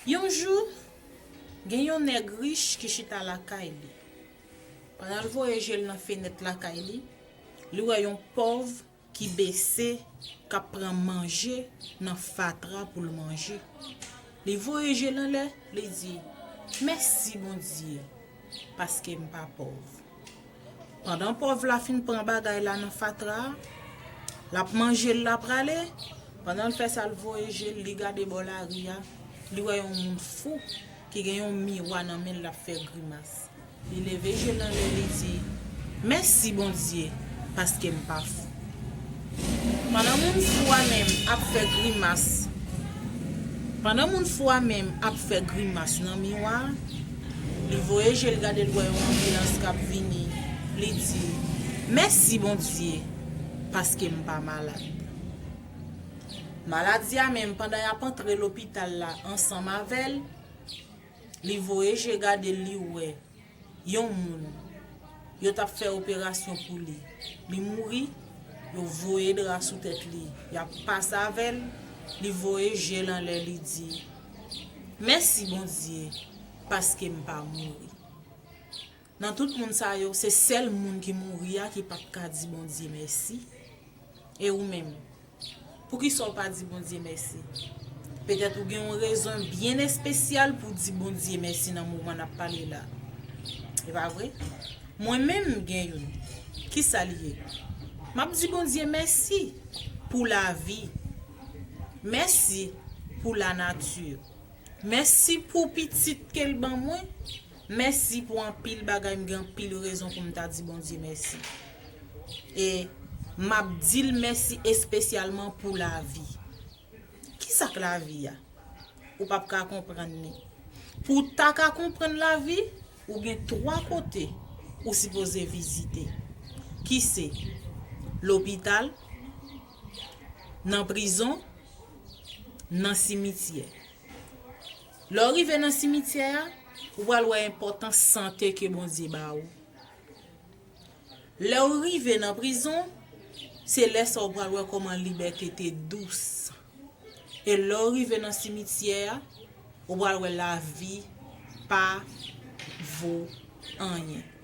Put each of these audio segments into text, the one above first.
Yon jou, gen yon nèg rich ki chita lakay li. Pandan l voye je l nan fenèt lakay li, li wè yon pòv ki bese k ap pran manje nan fatra pou l manje. Li voye je l anlè, li di, Mèsi Bondye! Paske m pa pòv. Pandan pòv la fin pran bagay la nan fatra a, l ap manje l, l ap rale, pandan l fè sa l voye je l, li gade bò lari a, li wè yon moun fou ki gen yon miwa nan men l l ap fè grimas. Li leve je l anlè li di, Mèsi Bondye paske m pa fou. Pandan moun fou a menm ap fè grimas Pandan moun fou a menm ap fè grimas nan miwa a, li voye je l gade l wè yon anbilans k ap vini, li di, Mèsi Bondye, paske m pa malad. Maladi a menm pandan y ap antre lopital la ansanm avè l, li voye je gade l li wè Yon moun. Yo tap fè operasyon pou li. Li mouri, yo voye dra sou tèt li. Yap pase avè l, li voye je l anlè li di, Mèsi Bondye paske m pa mouri. Nan tout moun sa yo, se sèl moun ki mouri a ki pat ka di Bondye mèsi. E ou menm? Poukisa w pa di Bondye mèsi? Petèt ou gen yon rezon byen espesyal pou w di Bondye mèsi nan moman n ap pale la. E pa vre? Mwen menm m gen youn. Ki sa li ye? M ap di Bondye mèsi pou lavi. Mèsi pou lanati. Mèsi pou pitit ke l ban mwen. Mèsi pou anpil bagay m gen anpil rezon pou m ta di Bondye mèsi e map dil mèsi espesyalman pou lavi kisa k lavi a ou pap ka konprann li pou w ta ka konprann lavi ou gen 3 kote ou sipoze vizite ki se lopital nan prizon nan simityè. Lè w rive nan simityè a, ou pral wè enpòtans sante ke Bondye ba ou. Lè w rive nan prizon, se lè sa w pral wè kòman libète te dous. E lè w rive nan simityè a, ou pral wè lavi pa vo anyen.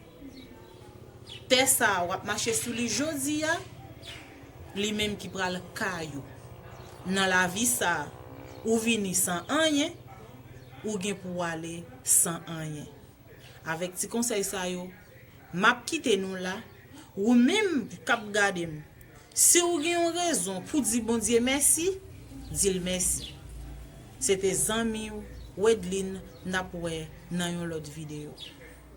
Tè sa a w ap mache sou li jodi a, li menm ki pral kay ou. Nan lavi sa a, ou vini san anyen, ou gen pou w ale san anyen. Avèk ti konsèy sa yo, m ap kite nou la. Ou menm k ap gade m, si w gen yon rezon pou di Bondye mèsi, di l mèsi. Se te zanmi w Wedline, n ap wè nan yon lòt videyo.